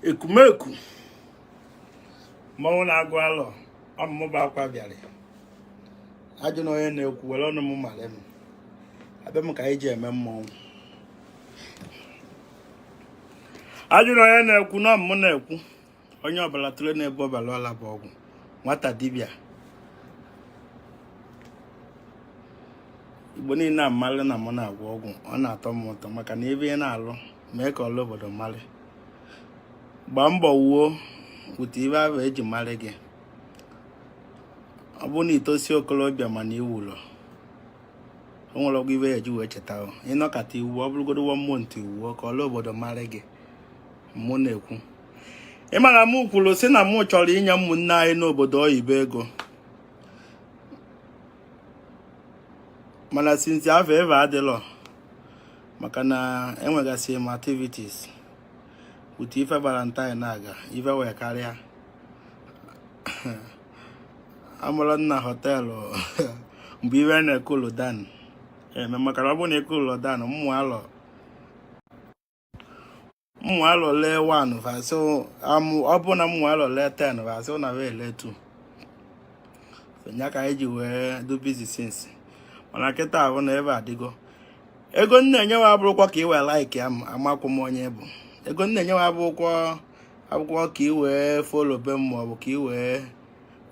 ekumeku mmanwụ na-agụ alọ ọmụmụba akwa bịara a jụọ na onye na-ekwu were ọnụ m mara m abịa m ka anyị ji eme mmọnwụ a jụọ na onye na-ekwu na ọ mmụ na-ekwu onye ọbụla tụle na-ebu ọbara ọla bụ ọgwụ nwata dibịa igbo niile amalụ na mụ na-agwọ ọgwụ ọ na-atọ m ụtọ maka na ife ị na-alụ mee ka ọla obodo malị gbaa mbọ wuo wute ife ahụ eji malị gị ọ bụrụ na i tosi okolobịa mana i wulọ o nwerọkwụ ife ya eji wee cheta ị nọkata i wuo ọ bụrụgodu one month i wuo ka ọla obodo malị gị mụ na-ekwu ị ma na m kwuru sị na mụ chọrọ inye ụmụnne anyị n'obodo oyibo ego mana since avụ eve adịlọ maka na enwegasị m activities utu ife valentine na-aga ife wee karịa amụrụ nna họteelụ mgbe ife na-ekulu down eme maka na ọ bụrụ na ekulu down mmụ alọ mụ alọle 1 vasị ọ bụ na mụ alọle 10 vasị ọ na wee ele 2 ya ka anyị ji wee do business mana kịta ahụ na eve adịgo ego m na-enyewa abụrọkwa ka ị wee like ya amakwụ m onye bụ ego m na-enyewa abụrọkwụ ka ị wee follow be m maọbụ ka ị wee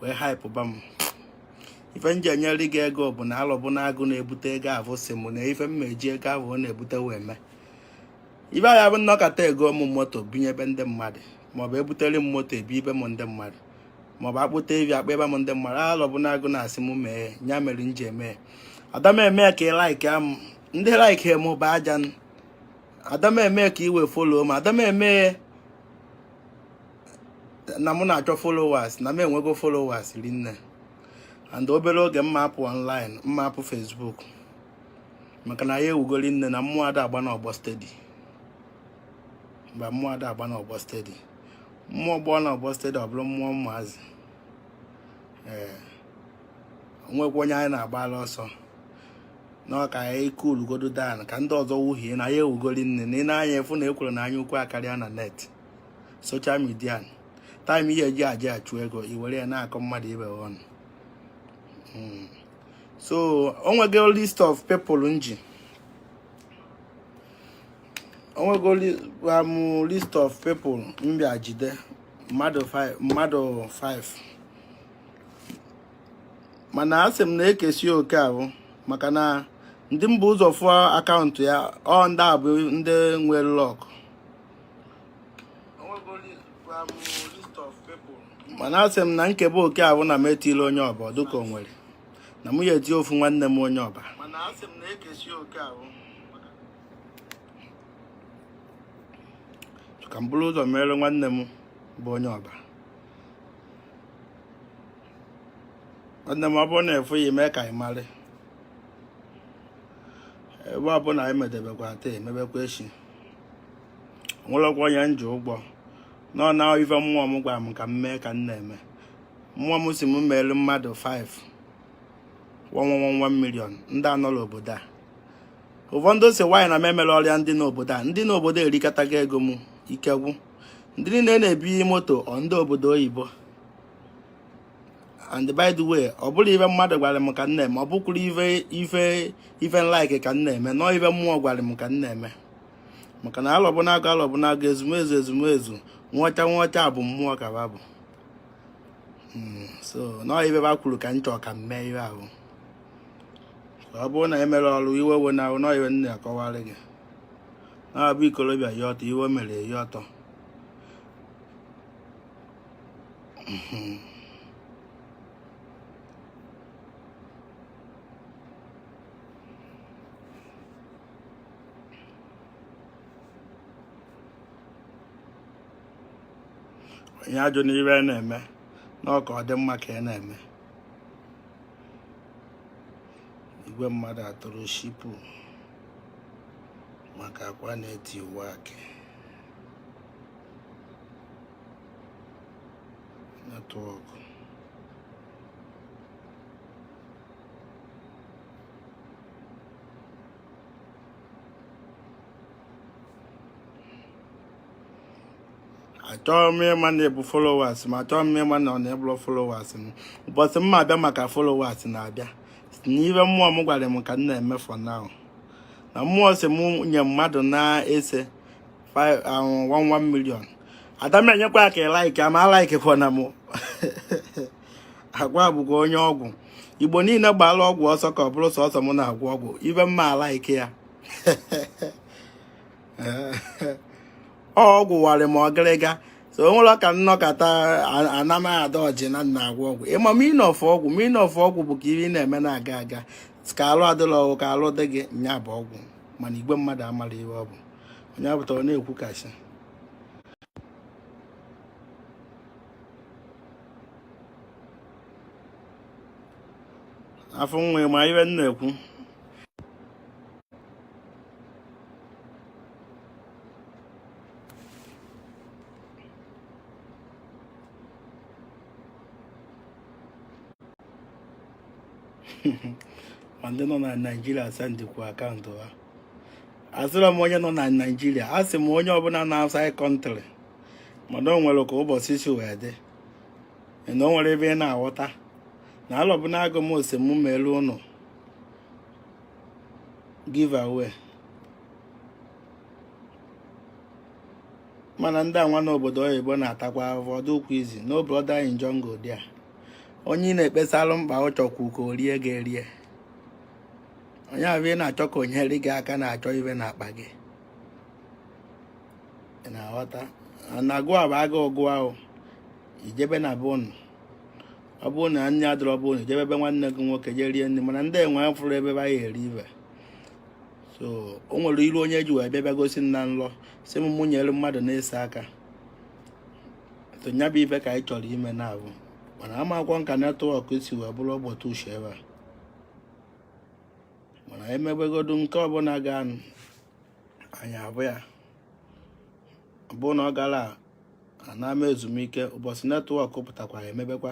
wee haịpụba m ife m ji enyere gị ego bụ na alọbụnagụ na-ebute ego avụ sị m na ife m ma eji ego ahụ ọ na-ebute wee mee ife a ya-abụ m nọkata egoo m moto binyebe ndị mmadụ maọbụ ebutere m moto ebinyebe m ndị mmadụ maọbụ akpụta evi akpụnyebe m ndị mmadụ alọbụnagụ na asị m mee ya mere m ji eme ada m eme ka ị like m ndị like m bụ aja ada m eme ka i wee follow m ada m eme na mụ na-achọ followers na m enwego followers rinne and obere oge m ma apụ online m ma apụ Facebook maka na ya ewugo rinne na mmụọ ada agba n'ọgbọ steady mgbe mmụọ ada agba n'ọgbọ steady mmụọ gbaa n'ọgbọ steady ọ bụrụ mmụọ ụmụazị ee o nwekwa onye anyị na-agbalụ ọsọ na ọ ka ya kulugodu down ka ndị ọzọ wuhie na ya ewugo rinne na ị na anya ụfụ na ekworo na anya ukwu akarịa na net social media time ị ya-eji aje achụ ego i were ya na-akọ mmadụ ibe ọnụ hmm. so o nwego list of people m ji o nwego um, list of people m bịa jide mmadụ 5 mana asị m na ekesi oke ahụ maka na ndị m bu ụzọ fụọ akaụntụ ya ọ ndị a bụ ndị nwere luck mana asị m na m kebe oke ahụ na m etile onye ọba dịka o nwere na mụ ya-eti ofu nwanne m onye ọba ka m buru ụzọ mere nwanne m bụ onye ọba nwanne m ọ bụrụ na efu ya mee ka anyị mara ebe ọbụla anyị medebekwa taa emebekwa echi nwerọkwa onye m ji ụgwọ nọ na ife mmụọ m gwara m ka m mee ka m na-eme mmụọ m si m meelu mmadụ 5 1 1 1 million ndị anọrọ n'obodo a ụfọdụ sị why na m emerọrọ ya ndị n'obodo a ndị n'obodo erikatago ego m ike gwụ ndị niile na-ebunye m moto ọ ndị obodo oyibo and by the way ọ bụrọ ife mmadụ gwara m ka m na-eme ọ bụkwurọ ife ife ife m like ka m na-eme nọọ ife mmụọ gwara m ka m na-eme maka na alọbụnagụ alọbụnagụ ezumezu ezumezu nwọcha nwọcha bụ mmụọ ka ba bụ hmm, so nọọ ife ba kwuru ka m chọọ ka m mee ihe ahụ ọ bụrụ na emere ọrụ iwe we na ahụ nọọ ife m na-akọwara gị na-abụ ikorobịa ya ọtọ iwe mere ya ọtọ onye ajụna ife m na-eme na ọ ka ọ dị m mma ka m na-eme igwe mmadụ atụrụ shipu maka akwa na-etiwa akị network achọghị m ịma na ị bụ followers m achọghị m ịma na ọ na ị bụrọ followers m ụbọchị m ga-abịa maka followers na-abịa na ife mmụọ m gwara m ka m na-eme for now na mmụọ si m nye mmadụ na ise 1 million ada m enyekwa ya ka ị like ama alaikekwana m agwa bụkwa onye ọgwụ igbo niile gbaala ọgwụ ọsọ ka ọ bụrụ sọsọ m na-agwọ ọgwụ ibe mma alaike ya ọgwụ warị m ọgịrịga so o nwere ka nnọkọta anamaghị ada ọjị na m na-agwọ ọgwụ ị ma meaning of ọgwụ meaning of ọgwụ bụ ka ife ị na-eme na-aga aga ka alụ adịla ọgwụ ka alụ dị gị nya bụ ọgwụ mana igwe mmadụ amara ihe ọ bụ onye apụtara na-ekwu kasị afọ nwa ma ibe m na-ekwu ma ndị nọ na naijiria sendịkwa akaụntụ ha asịrọ m onye nọ na naijiria a sị m onye ọbụla nọ outside country mana o nwere ka ụbọchị si wee dị na o nwere ebe ị na-aghọta na alọbụ na agụ m ose m meelu ụnụ give away mana ndị anwa n'obodo oyibo na-atakwa afụfụ ọ dịghịkwa easy no brother in jungle there onye ị na-ekpesalụ mkpa ọ chọkwu ka o rie gị erie onye ahụ ị na-achọ ka o nyere gị aka na-achọ ibe n'akpa gị ị na-aghọta na agụ a bụ agụụ gụwa gị i jebe na be ụnụ ọ bụrụ na nri adịrọ be ụnụ i jebe ebe nwanne gị nwoke jee rie nri mana ndị enwe fụrụ ebe ba ya eri ibe so o nwere iru onye ji wee bịa gosi m na nlọ sị m mụ nyere mmadụ n'ise aka so nya bụ ibe ka anyị chọrọ ime na abụ mana amakwa nka netwọk si wee bụrụ ụbọchị uche ebe a mana emebegodu nke ọbụla ga anyị abụ ya bụ na ọ gara ana m ezumike ụbọchị netwọk pụtakwara emebekwa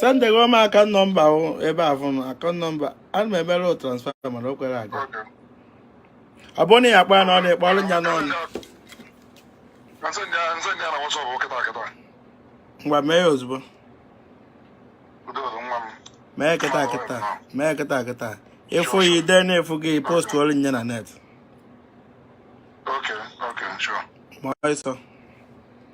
sendego m akaụntụ nọmba ebe a fụnụ akaụntụ nọmba ana m emere transfa mana o kwerọ aga ọ bụrụ na ya kpaa na ọ na-ekpe ọrụ nya n'ọnụ ngwa mee ya ozugbo mee kịta kịta mee kịta kịta ịfụ ya ide na-efu gị postụọrụ nya na net Okay, okay, sure. Moisa.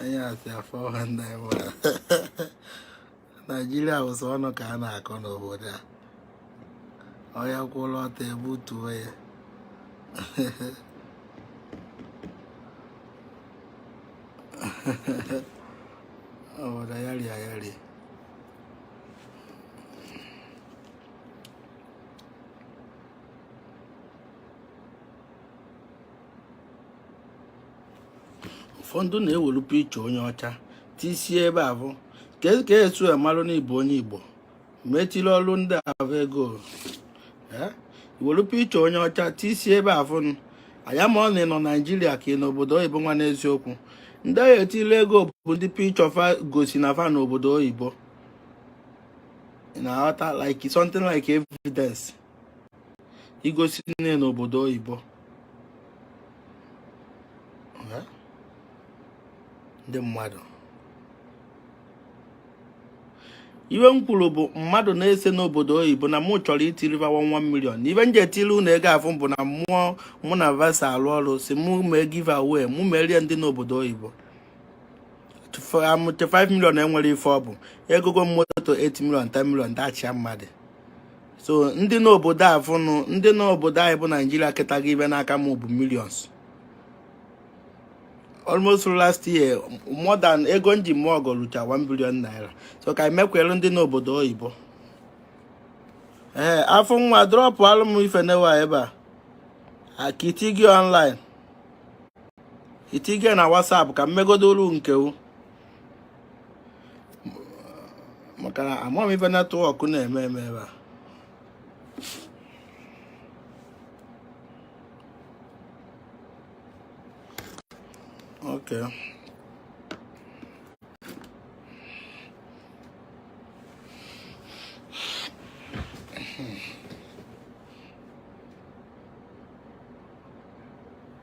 onye asị afọ ha nna ya naijiria bụ sọ ọnụ ka a na-akọ n'obodo a onye kwụrụ ọtọ e butuo ya ọ daa ya rịa ya rịa ụfọdụ na-ewelu picha onye ọcha tisie ebe afụ ka e, e esu emalụ na ị bụ onye igbo m etili ọrụ ndị abụ ego i welu picha onye ọcha tisie ebe afụ anya ma ọ na ị nọ naijiria ka ị nọ obodo oyibo nwa n'eziokwu ndị a ga-etili ego bụ ndị picha fa gosi na fa nọ obodo oyibo ị na-aghọta like something like evidence igosi na ị nọ obodo oyibo ndị mmadụ ife m kwuru bụ mmadụ n'ise n'obodo oyibo na mụ chọrọ itili va one one million ife m ji etiri unu ego afụ bụ na mmụọ mụ na va so alụ ọrụ sị mụ mee give away mụ meere ndị n'obodo oyibo amụte 5 million e nwere ife ọ bụ egogo m moto 8 million 10 million dashịa mmadụ so ndị n'obodo a fụnụ ndị n'obodo anyị bụ naijiria ketago ife n'aka m bụ millions almost last year more than ego m ji mee ọgọ rucha 1 billion naira so ka e mekwere ndị n'obodo oyibo ee afọ nwa drọpụalụ m ife nwa ebe a akiti gị online itige na WhatsApp ka m megodo olu nke u maka na amaghị m ife netwọk na-eme eme ebe a Okay.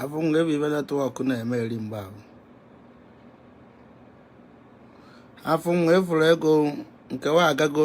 afụ m ga-ebe ife netwọk na-eme eri mgbe ahụ afụ m efuru ego nke nwa agago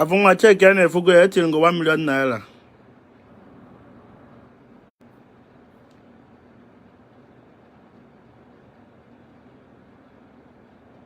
afụ nwa cheki a na-efugo ya etigo 1 million naira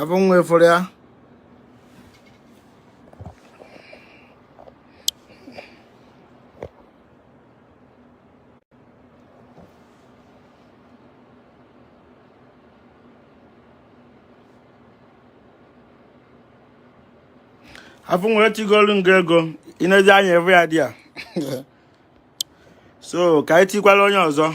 abụ nwa efere ya afọ nwere tigolu nga ego ịnezi anya evu ya dị ya so ka anyị tikwala onye ọzọ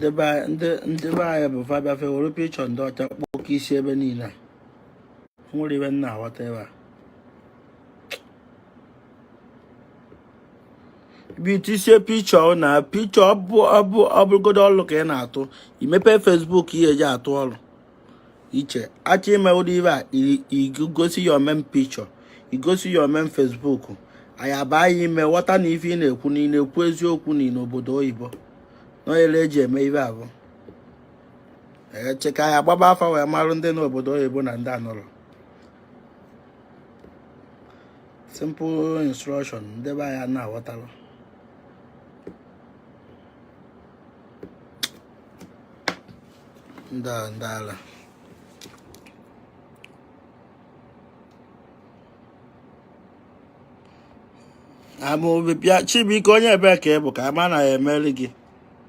ndị be anyị bụ fa bịa fa ewere picture ndị ọcha kpọọ oke isi ebe niile were ibe na-aghọta ebe a bịa tisie picture na picture ọ bụrụgodu ọlụ ka ị na-atụ i mepe facebook ihe eji atụ ọlụ iche achọ ime ụdị ife a i gosi your main picture i gosi your main facebook anyị abaa ya ime ghọta na ife ị na-ekwu na ị na-ekwu eziokwu na ị nọ obodo oyibo n'onyere eji eme ife a bụ eche ka anyị agbaba afa wee marụ ndị nọ obodo oyibo na ndị anọrọ simple instruction ndị be anyị na-aghọtarọ ndị a ndị ala amụ bịa chibuike onye ebee ka ị bụ ka ama na ihe mere gị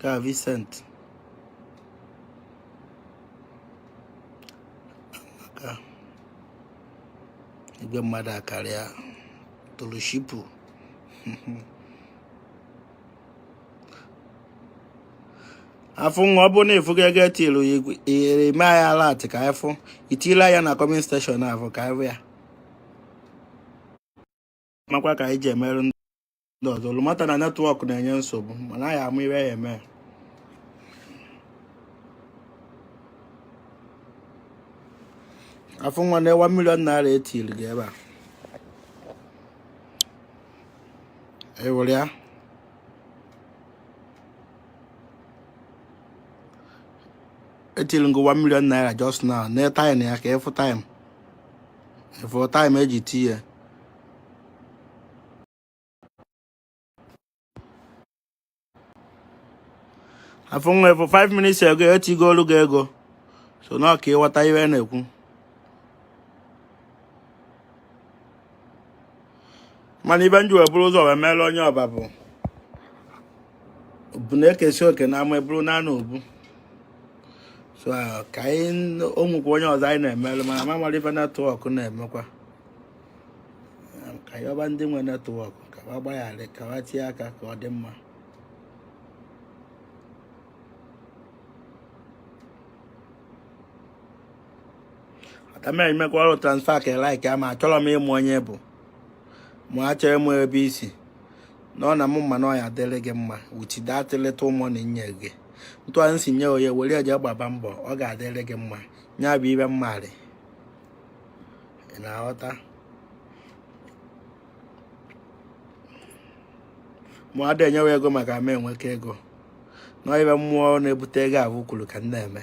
ka Vincent amaka igwe mmadụ akarịa toloshipu afụ nwa ọ bụ na ịfụgo ego etilu ihere ime anyị alert ka anyị fụ itila ya na comment section afụ ka anyị ya makwa ka anyị ji emerụ ndị ọzọ unu mata na network na-enye nsogbu mana anyị ama ihe ya eme afụ nwa na 1 million naira etiri gị ebe a ewere ya etirigo 1 million naira just now na time ya ka ịfụ time ịfụ time eji tie ya afụ nwa ịfụ 5 minutes ago etigolu gị ego so na ọ ka ịghọta ihe na-ekwu mana ife m ji wee buru ụzọ wee meere onye ọba bụ bụ na ekesịa oke na ama eburu naa n'obu so ka anyị makwa onye ọzọ anyị na-emerụ mana m amarọ ife network na-emekwa ka anyị yọba ndị nwe network ka wa gbaghara ka wa tie aka ka ọ dị mma atamere imekwa ọrụ transfer ka like ama achọrọ m ịma onye ị bụ ma achọ ịma ebe i si na ọ na mụ mma na ọ ya adịrị gị mma with that little mụ na-enye gị ntụ anyị si nye onye were eje gbaba mbọ ọ ga-adịrị gị mma nya bụ ife mmarị ị na-aghọta mụ ada enye wa ego maka m enweka ego na ife mmụọ na-ebute ego ahụ kwuru ka m na-eme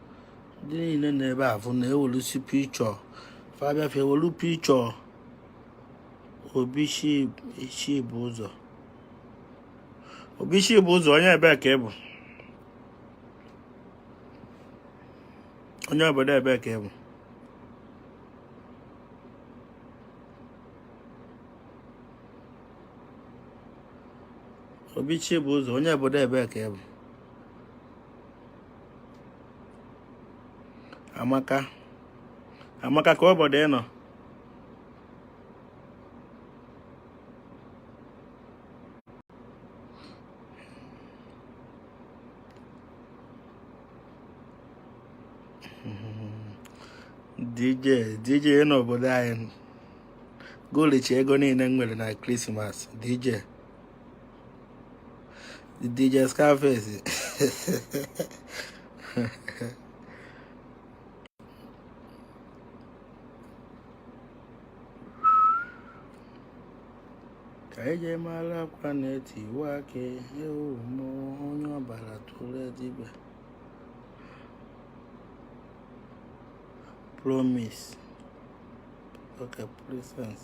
ndị niile nọ ebe a fa na-ewelisi picture fa bịa fa ewelu picture Obi Chibuzo Obi Chibuzo onye ebee ka ị bụ onye obodo ebee ka ị bụ Obi Chibuzo onye obodo ebee ka ị bụ amaka amaka ka obodo ị nọ DJ DJ n'obodo anyị ga-elicha ego niine m nwere na krismas DJ DJ Scarface ka e ji mara akwa na-etiwa akị ewu mmụọ onye ọbara tụrụ dibịa promise okay presence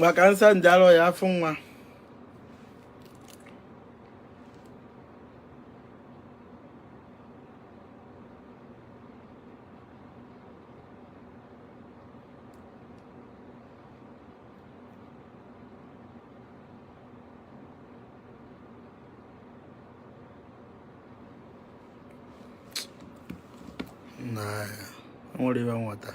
maka nsa nje alụ ya afọ nwa nwere ive nweta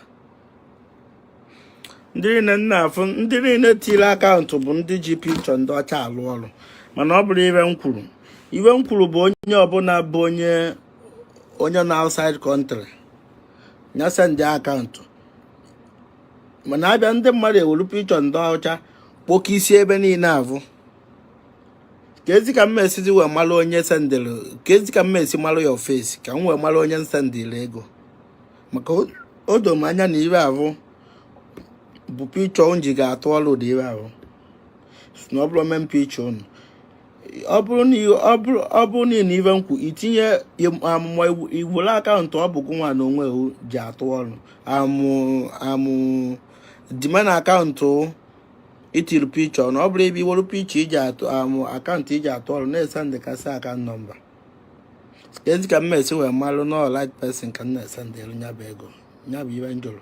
ndị niile m na-afụ ndị niile tiri akaụntụ bụ ndị ji picture ndị ọcha alụ ọrụ mana ọ bụrọ ive m kwuru ive m kwuru bụ onye ọbụna bụ onye onye na outside country nya sendịa akaụntụ mana abịa ndị mmadụ ewere picture ndị ọcha kpoke isi ebe niine avụ kezi ka m ma-esizi wee mara onye sendịrị kezi ka m ma-esi mara ya ofesi ka m wee mara onye m sendịrị ego maka o doro m anya na ive ahụ bụ picture m ji ga-atụ ọrụ ụdị ive ahụ na ọ bụrọ main picture unu ọ bụrụ na ọ bụrụ ọ bụrụ na ị na ive m kwu itinye im- amụma iwu- i were akaụntụ ọ bụ gị nwa na onwe gị ji atụ ọrụ I mean I mean the main akaụntụ i tiri picture na ọ bụrụ ebe i were picture i ji atụ I mean akaụntụ i ji atụ ọrụ na-esendịkasị akaụntụ number kezi ka m ma-esi wee malụ na ọ right person ka m na-esendịlụ nya bụ ego nya bụ ive m jụrụ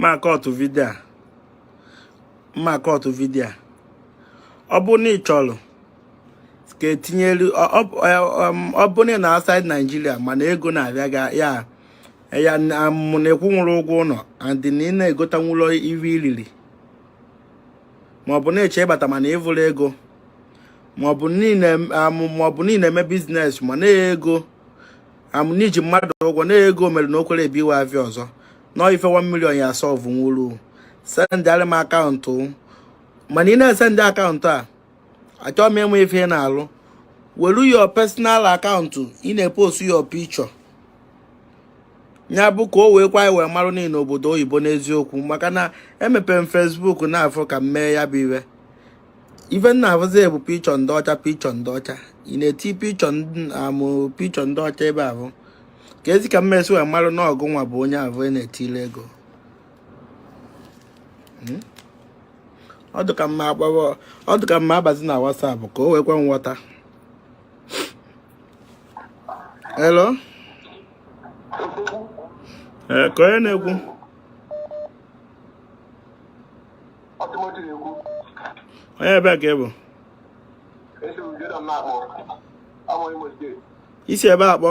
m ma-akọtụ vidio a m ma-akọtụ vidio a ọ bụrụ na ị chọrọ ka e tinyelu ị ọ bụrụ na ị nọ outside Nigeria mana ego na-abịa ga ya ya mụ na ị kwụnwurọ ụgwọ ụlọ and na ị na-egotanwulọ ive iliri maọbụ na ị chọ ịbata mana ị vụrọ ego maọbụ na ị na maọbụ na ị na-eme biznes ma na-ego amụ n'iji mmadụ ụgwọ na ego mere na o kwerọ ebiwe avịa ọzọ na ife 1 million ya-asọvụnwuru sendịara m akaụntụ mana ị na-esendị akaụntụ a achọ m ịma ife ị na-alụ welu your personal akaụntụ ị na-epost your picture ya bụ ka o wee kwe anyị wee marụ na ị nọ obodo oyibo n'eziokwu maka na emepere m Facebook na-afọ ka m mee ya bụ ive ife m na-afụzi bụ pichọ ndị ọcha pichọ ndị ọcha ị na-eti pichọ amụ pichọ ndị ọcha ebe ahụ keezi ka m ma-esi wee marụ na ọ gụnwa bụ onye avụ a na-etile ego hmm? ọ dị ka m ma-agbawa ọ dị ka m ma-abazi na WhatsApp ka o wee kwe nghọta hello ee kee onye na-ekwu onye ebee ka ị bụ i si ebee akpọ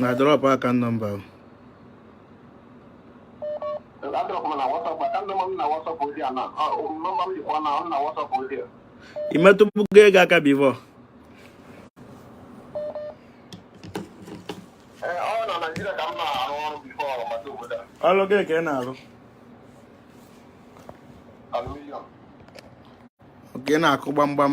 na drọpụ akaụntụ nọmba ahụ ị metụbugo ego aka bivọ ọrụ gịnị ka ị na-arụ ka ị na-akụ gbamgbam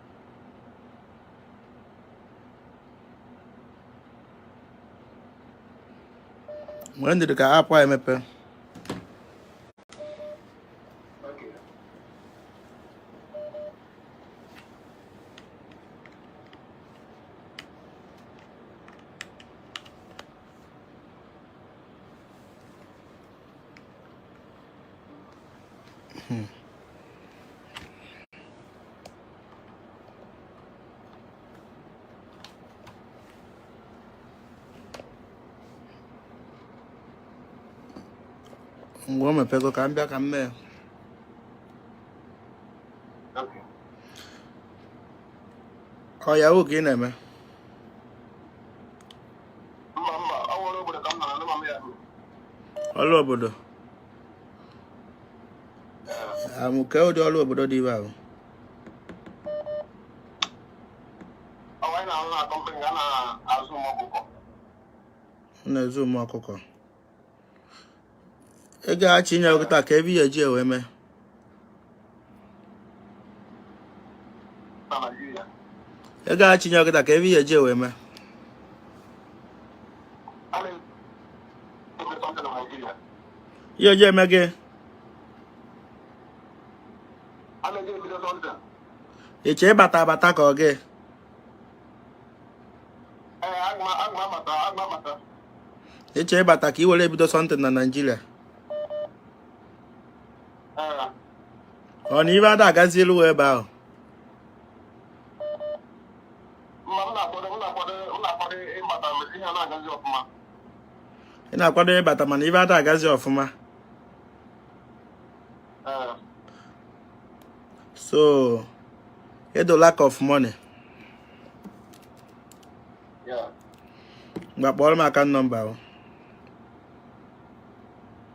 mgbe njiri ka apụ a emepe Hmm. ngwa o mepego ka m bịa ka m mee ọ ya ka ị na-eme ọrụ obodo amụke ụdị ọrụ obodo dị ebe ahụ na-azụ ụmụ ọkụkọ ego achị nye ọkụta ka ebe ihe ji ewe mee ị gaghị chinye ọkịta ka ebe ihe eji wee mee ihe eji eme gị ịchọ ịbata abata ka ọ gị ịchọ ịbata ka ị were bido something na Nigeria ọ na ive ada agazilu wee ebe ahụ ị na-akwado ịbata mana ive ada agazi ọfụma so edo lack of money ngwa kpọọrọ m account number ahụ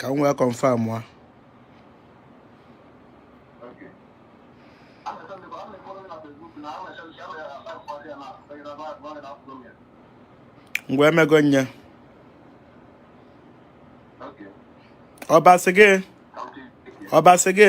ka m wee confirm ya ngwa emego nye ọbasị gị ọbasị gị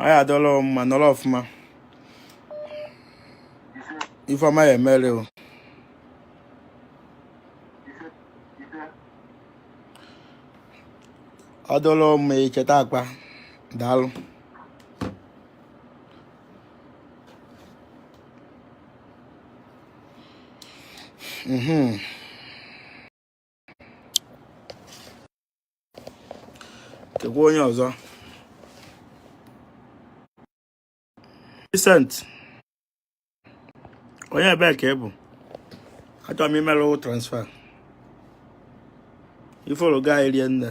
anyị adọla mma nọrọ ọfụma ife ọma ya-emere o ọ dọla mma icheta akpa daalụ Mm-hmm. Keekwa onye ọzọ. Vincent. Onye ebee ka ị bụ? Achọrọ m imelu transfer. Ifolo ga-erie nne.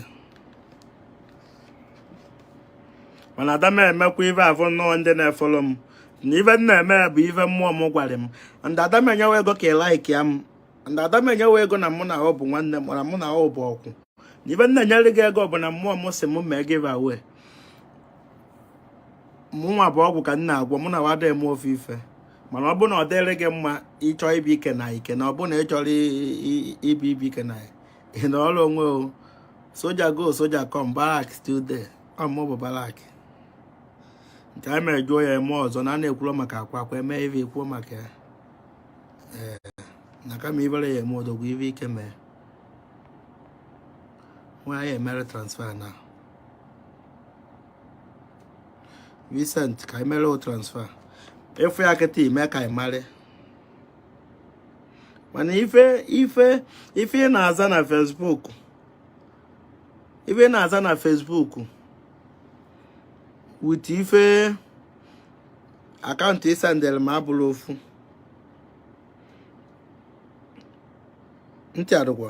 mana ada m emekwa ive avụ nnọọ ndị na-efolo m na ive m na-eme bụ ive mmụọ m gwara m ndị ada m enyewa ego ka ịlaiki ya m ndị ada m enyewa ego na mụ na ọ bụ nwanne m na mụ na ọ bụ ọkwụ na ive m na-enyere gị ego bụ na mmụọ m si m mee gị favour mụnwa bụ ọgwụ ka m na-agwọ mụnwa ada eme ofe ife mana ọ bụ na ọ dịrị gị mma ịchọ ibi ike na ike na ọ bụ na ị chọrọ ibi ibi ike na ị nọ ọrụ onwe o soja go soja come barrack still dey ọ mụ bụ barrack nke a mere jụọ ya eme ọzọ na a na-ekwuro maka akwa akwa eme ive kwuo maka ya ee na kama ivere ya eme odogwu ive ike mee nwa ya emere transfer na recent ka emere o transfer ị fụ ya kịta ime ka ị marị mana ife ife ife ị na-aza na Facebook ife ị na-aza na Facebook with ife account ị sendere m abụrọ ofu ntị adịkwa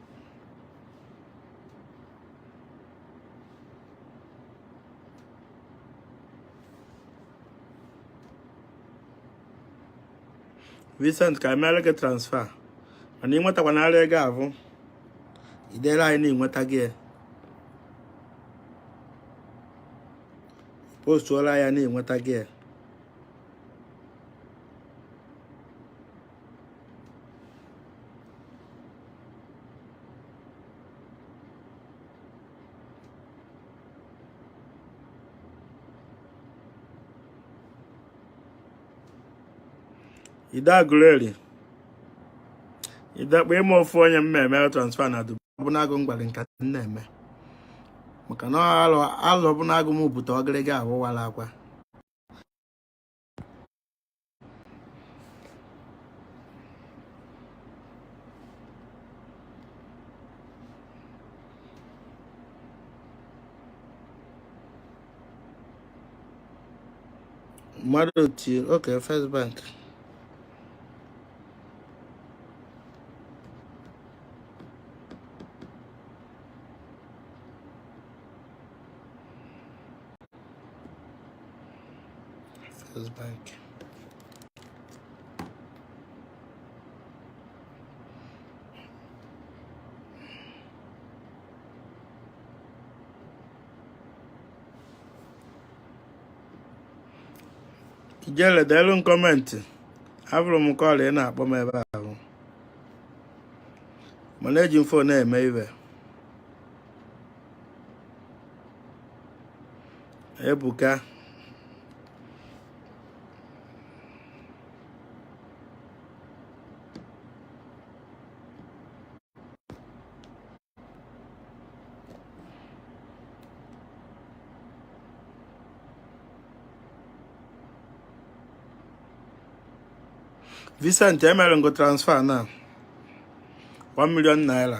recent ka emere gị transfer mana ị nwetakwa narị ego abụ idere anyị na-enweta gị postuola ya na-enweta gị ide Agụleri idekpa ịma ofu onye m na-eme transfer na Dubai ọbụnagụ mgbali nkata m na-eme maka na alụ ọbụnagụ m bute ọgịrịga awụwala akwa mmadụ tiri oke First Bank Feels back. Ijele deelu m comment afụrụ m call ị na-akpọ m ebe ahụ mana eji m phone na-eme ive ebuka Vincent emere ngo transfer na 1 million naira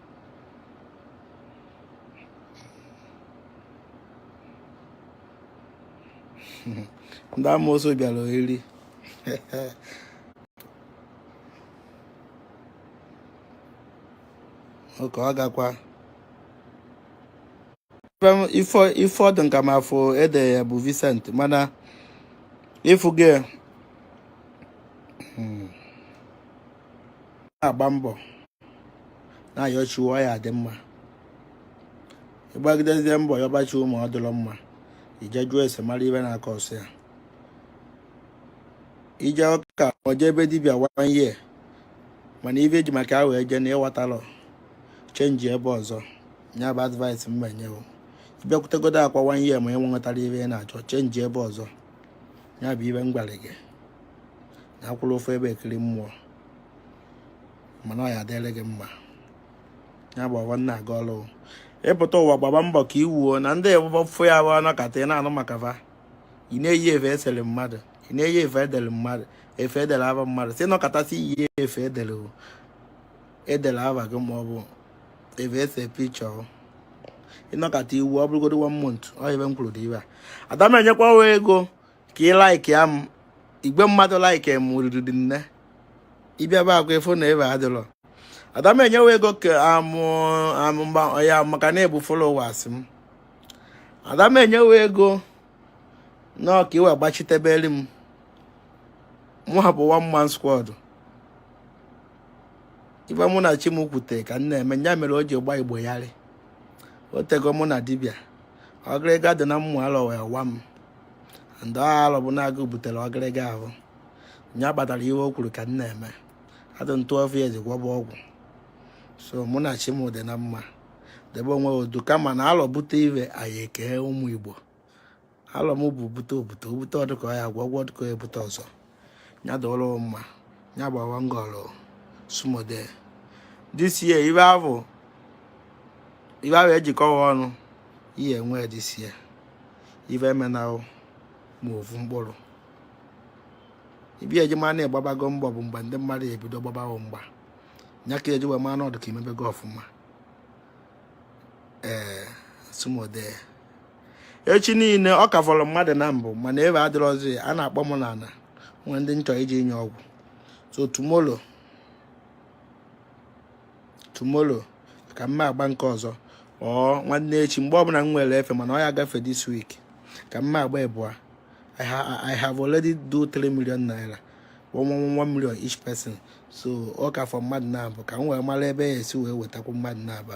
ndị amoosu bịara oriri okay ọ gakwa ife ọ dị ka m afụ ede ya bụ Vincent mana ịfụ gị hmm, na-agba mbọ na-ayọ chi wo ọ ya-adị mma ị gbagidezie mbọ ya ọbachi ụmụ ọ dịrọ mma i je jụọ ese mara ive na-akọ ọsọ ya ije ọka oje ebe dibịa one year mana ive i ji maka ahụ eje na ị nwetarọ change ebe ọzọ nya bụ advice m ma-enye wo ị bịakwutegodo Akwa one year ma ị nwetarọ ive ị na-achọ change ebe ọzọ ya bụ ive m gwara gị na akwụrọ ofu ebe ekiri mmụọ mana ọ ya-adịrị gị mma ya gbaba nna aga ọrụ ị pụta ụwa gbaba mbọ ka ị wuo na ndị fụ ya bụ anọkata ị na-anụ maka fa ị na-eyi efe esere mmadụ ị na-eyi efe edere mmadụ efe edere ava mmadụ si nọkọtasị iyi efe edere edere ava gị ma ọ bụ efe ese picture ị nọkata i wuo ọ bụrụgodo one month ọ ive m kwuru dị ive a ada m enyekwa ego ka ị like-ịa m igwe mmadụ like m riri nne ị bịa be agwa efo na ebe adịrọ ada m enye wo ego ka amụ amụ mba ya maka na ị bụ followers m ada m enye wo ego na ọ ka i wee gbachitebere m mụ a bụ one man squad ive mụ na chi m kwute ka m na-eme ya mere o ji gba Igbo yarị o tego mụ na dibịa ọgịrịga dị na mmụ alọ wee wa m ndị alọ bụ na-agụ butere ọgịrịga ahụ nya kpatara ihe o kwuru ka m na-eme adị two years gwọba ọgwụ so mụ na chi m dị na mma debe onwe odu kama na alọ bute ive anyị ekee ụmụ Igbo alọ m bụ bute obute obute ọdụkọ ya gwọgwọ ọdụkọ ebute ọzọ ya dụrụ mma ya gbawa ngọrọ sumode this year ibe ahụ ibe ahụ ejikọwa ọnụ ihe enwe this year ive eme n'ahụ ma ovu mkpụrụ ive eji ma na agbabago mgba bụ mgbe ndị mmadụ ebido gbaba mgba ya ka eji wee ma na ọ dụ ka imebego ọfụma ee sumode echi niile ọ ka fọrọ mmadụ naabọ mana efe adịrọzi a na-akpọ m na e nwere ndị m chọ ije inye ọgwụ so tomorrow tomorrow ka m ma-agba nke ọzọ or nwanne echi mgbe ọbụla m nwere efe mana ọ ya-agafe this week ka m ma-agba ịbụa I have already do 3 million naira 1 million each person so ọ ka fọ mmadụ naabọ ka m wee mara ebe ya-esi wee wetakwu mmadụ naabọ